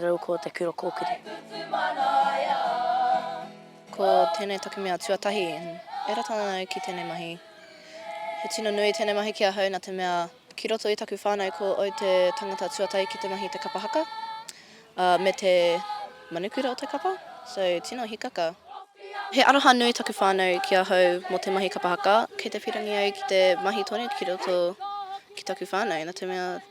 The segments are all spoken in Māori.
Rau ko te kura kōkiri. Ko tēnei taku mea tuatahi, e rata ana au ki tēnei mahi. He tino nui tēnei mahi ki ahau nā te mea ki roto i taku whānau ko au te tangata tuatahi ki te mahi te kapa haka, ā, me te manukura o te kapa, so tino hikaka. He aroha nui taku whānau ki ahau mō te mahi kapa haka, kei te pīrangi au ki te mahi tonu ki roto ki taku whānau nā te mea,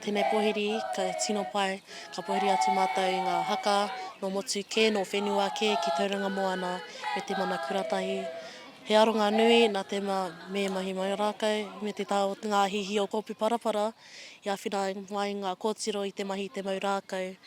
Tēnei pōhiri, ka tino pai, ka pōhiri atu mātou i ngā haka nō motu kē, nō whenua kē ki Tauranga Moana me te mana kuratahi. He aronga nui nā te mea me mahi mai o rākau me te taha o ngā hihi o Kōpū Parapara i āwhina mai ngā kōtiro i te mahi i te mau rākau.